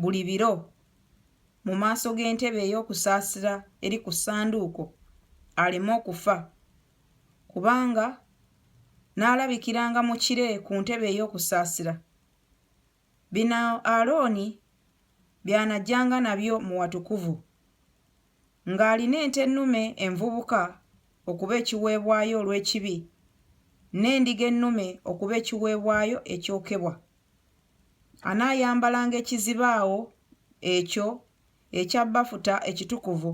buli biro mu maaso g'entebe ey'okusaasira eri ku ssanduuko aleme okufa, kubanga n'alabikiranga mu kire ku ntebe ey'okusaasira. Bino Alooni by'anajjanga nabyo mu watukuvu, ng'alina ente ennume envubuka okuba ekiweebwayo olw'ekibi, n'endiga ennume okuba ekiweebwayo ekyokebwa. Anaayambalanga ekizibaawo ekyo ekya bafuta ekitukuvu,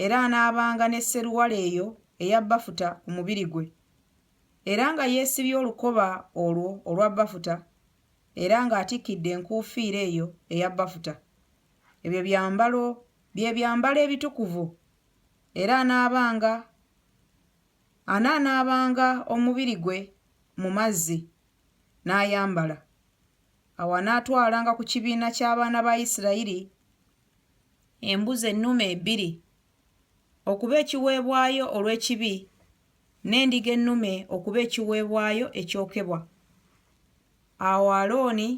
era anaabanga ne sseruwale eyo eya bafuta ku mubiri gwe, era nga yeesibye olukoba olwo olwa bafuta, era ng'atikkidde enkuufiira eyo eya bafuta. Ebyo byambalo bye byambalo ebitukuvu, era anaabanga anaanaabanga omubiri gwe mu mazzi, n'ayambala. Awo anaatwalanga ku kibiina ky'abaana ba Isirayiri embuzi ennume ebbiri okuba ekiweebwayo olw'ekibi n'endiga ennume okuba ekiweebwayo ekyokebwa. Awo Alooni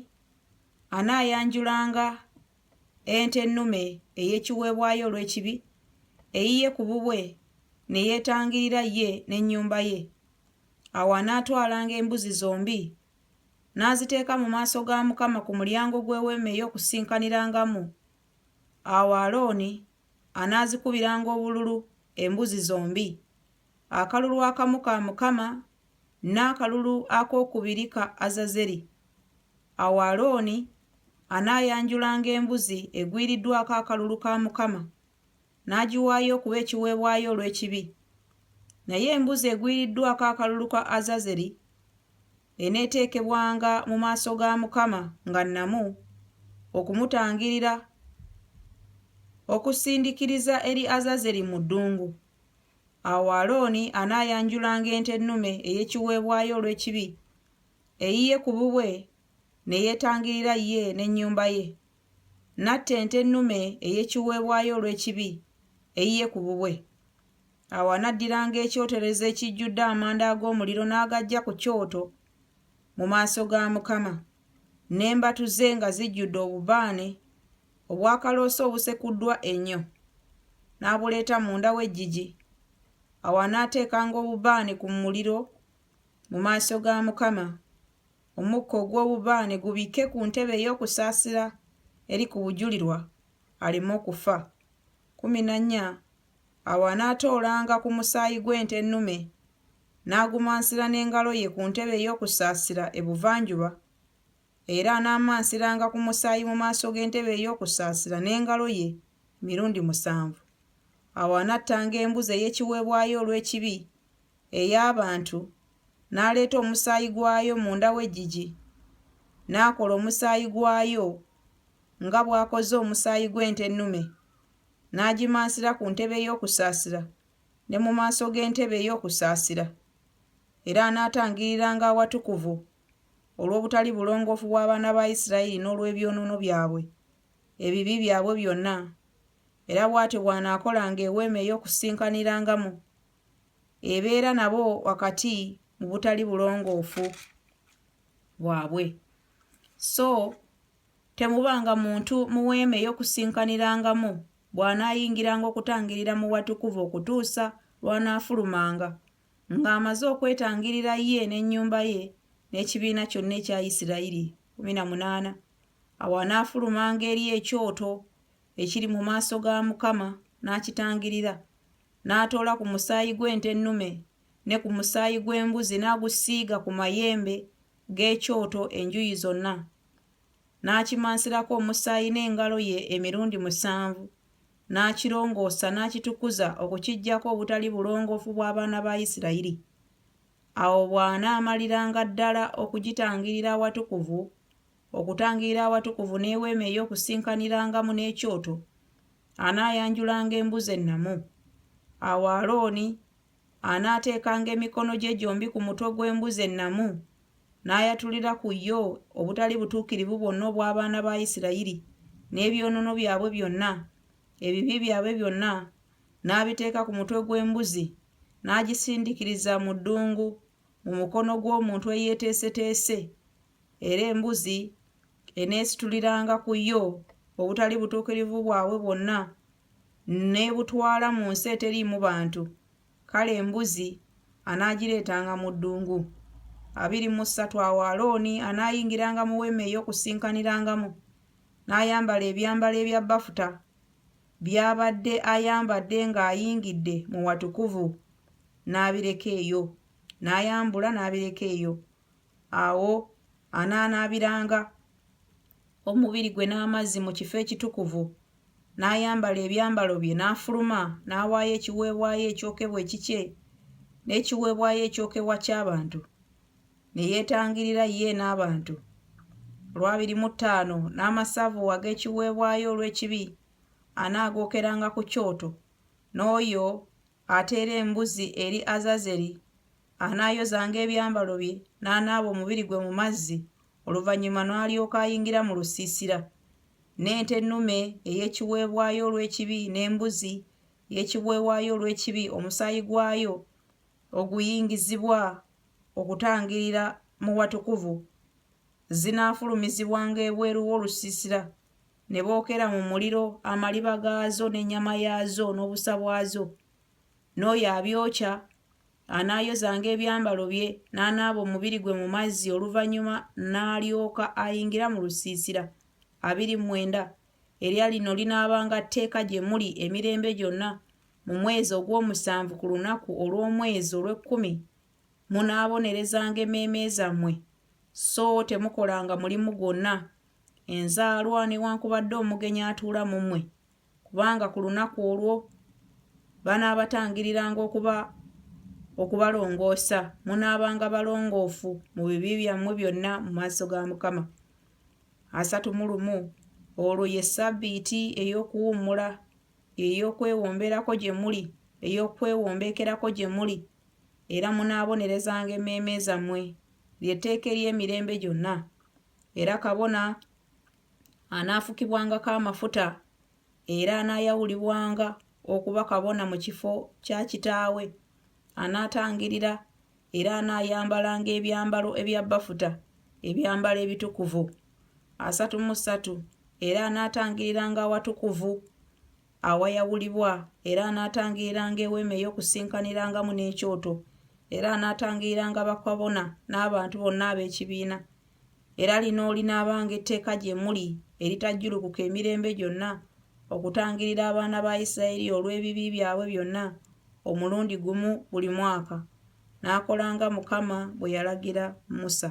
anaayanjulanga ente ennume ey'ekiweebwayo olw'ekibi eyiye ku bubwe ne yeetangirira ye n'ennyumba ye. Awo anaatwalanga embuzi zombi n'aziteeka mu maaso ga Mukama ku mulyango gw'eweema ey'okusinkanirangamu. Awo Alooni anaazikubiranga obululu embuzi zombi, akalulu akamu ka Mukama n'akalulu akookubiri ka Azazeri. Awo Alooni anaayanjulanga embuzi egwiriddwako akalulu ka Mukama n'agiwaayo okuba ekiweebwayo olw'ekibi. Naye embuzi egwiriddwako akalulu ka Azazeri eneeteekebwanga mu maaso ga Mukama nga nnamu, okumutangirira, okusindikiriza eri Azazeri mu ddungu. Awo Alooni anaayanjulanga ente ennume ey'ekiweebwayo olw'ekibi, eyiye ku bubwe ne yeetangirira ye n'ennyumba ye. n'atta ente ennume ey'ekiweebwayo olw'ekibi eyiye ku bubwe. Awo anaddiranga ekyoterezo ekijjudde amanda ag'omuliro n'agajja ku kyoto mu maaso ga Mukama, n'embatu ze nga zijjudde obubaane obwakaloosa obusekuddwa ennyo, n'abuleeta munda w'eggigi. Awo anaateekanga obubaane ku muliro mu maaso ga Mukama. Omukka ogw'obubaane gubikke ku ntebe ey'okusaasira eri ku bujulirwa, aleme okufa. Kkumi na nnya, Awo anaatoolanga ku musaayi gw'ente ennume, n'agumansira n'engalo ye ku ntebe ey'okusaasira ebuvanjuba, era anaamansiranga ku musaayi mu maaso g'entebe ey'okusaasira n'engalo ye emirundi musanvu. Awo anattanga embuzi ey'ekiweebwayo olw'ekibi ey'abantu, n'aleeta omusaayi gwayo munda w'eggigi, n'akola omusaayi gwayo nga bw'akoze omusaayi gw'ente ennume, n'agimansira ku ntebe ey'okusaasira ne mu maaso g'entebe ey'okusaasira. Era anaatangiriranga awatukuvu olw'obutali bulongoofu bw'abaana ba Isirayiri n'olw'ebyonoono byabwe, ebibi byabwe byonna. Era bw'atyo bw'anaakolanga Eweema ey'Okusisinkaniramu ebeera nabo wakati mu butali bulongoofu bwabwe so temubanga muntu muweema ey'okusinkanirangamu bw'anaayingiranga okutangirira mu watukuvu okutuusa lw'anaafulumanga ng'amaze okwetangirira ye n'ennyumba ye n'ekibiina kyonna ekya isirayiri 18 awo anaafulumanga eri ekyoto ekiri mu maaso ga mukama n'akitangirira N'atoola ku musaayi gw'ente ennume ne ku musaayi gw'embuzi n'agusiiga ku mayembe g'ekyoto enjuyi zonna, n'akimansirako omusaayi n'engalo ye emirundi musanvu, n'akirongoosa n'akitukuza okukiggyako obutali bulongoofu bw'abaana ba Isirayiri. Awo bw'anaamaliranga ddala okugitangirira Awatukuvu Okutangira awatukuvu n'eweema ey'okusinkanirangamu n'ekyoto, anaayanjulanga embuzi ennamu. Awo Alooni anaateekanga emikono gye gyombi ku mutwe gw'embuzi ennamu, n'ayatulira ku yo obutali butuukirivu bwonna obw'abaana ba Isirayiri, n'ebyonoono byabwe byonna, ebibi byabwe byonna, n'abiteeka ku mutwe gw'embuzi, n'agisindikiriza mu ddungu mu mukono gw'omuntu eyeeteeseteese. era embuzi eneesituliranga ku yo obutali butuukirivu bwabwe bwonna n'ebutwala mu nsi eteriimu bantu kale embuzi anaagireetanga mu ddungu abiri mu ssatu awo alooni anaayingiranga mu weema ey'okusinkanirangamu n'ayambala ebyambalo ebya bafuta by'abadde ayambadde ng'ayingidde mu watukuvu n'abireka eyo n'ayambula n'abireka eyo awo anaanaabiranga omubiri gwe n'amazzi mu kifo ekitukuvu n'ayambala ebyambalo bye n'afuluma n'awaayo ekiweebwayo ekyokebwa ekikye n'ekiweebwayo ekyokebwa ky'abantu ne yeetangirira ye n'abantu olwabiri mu ttaano n'amasavu ag'ekiweebwayo olw'ekibi anaagookeranga ku kyoto n'oyo Ate era embuzi eri Azazeri anaayozanga ebyambalo bye n'anaaba omubiri gwe mu mazzi, oluvannyuma n'alyoka ayingira mu lusiisira. N'ente ennume ey'ekiweebwayo olw'ekibi n'embuzi y'ekiweebwayo olw'ekibi omusaayi gwayo oguyingizibwa okutangirira mu watukuvu zinaafulumizibwanga ebweru w'olusiisira ne bookera mu muliro amaliba gaazo n'ennyama yaazo n'obusa bwazo n'oyo abyokya anaayozanga ebyambalo bye n'anaaba omubiri gwe mu mazzi oluvannyuma n'alyoka ayingira mu lusiisira abiri mwenda erya lino linaabanga tteeka gye muli emirembe gyonna mu mwezi ogw'omusanvu ku lunaku olw'omwezi olw'ekkumi munaabonerezanga emmeeme zammwe so temukolanga mulimu gwonna enzaalwa newankubadde omugenyi atuula mu mmwe kubanga ku lunaku olwo banaabatangiriranga okuba okubalongoosa munaabanga balongoofu mu bibi byammwe byonna mu maaso ga mukama asatu mu lumu olwo ye ssabbiiti ey'okuwummula ey'okwewomberako gye muli ey'okwewombeekerako gye muli era munaabonerezanga emmeeme zammwe lyetteeka ery'emirembe gyonna Era kabona anaafukibwangako amafuta era anaayawulibwanga okuba kabona mu kifo kya kitaawe. Anaatangirira era anaayambalanga ebyambalo ebya bafuta, ebyambalo ebitukuvu. Asatu mu ssatu era anaatangiriranga awatukuvu. awayawulibwa, era anaatangiriranga eweema ey'okusinkanirangamu n'ekyoto, era anaatangiriranga bakabona n'abantu bonna ab'ekibiina. Era lino olinaabanga etteeka gye muli eritajjulukuka emirembe gyonna, okutangirira abaana ba Isirayiri olw'ebibi byabwe byonna omulundi gumu buli mwaka. N'akolanga Mukama bwe yalagira Musa.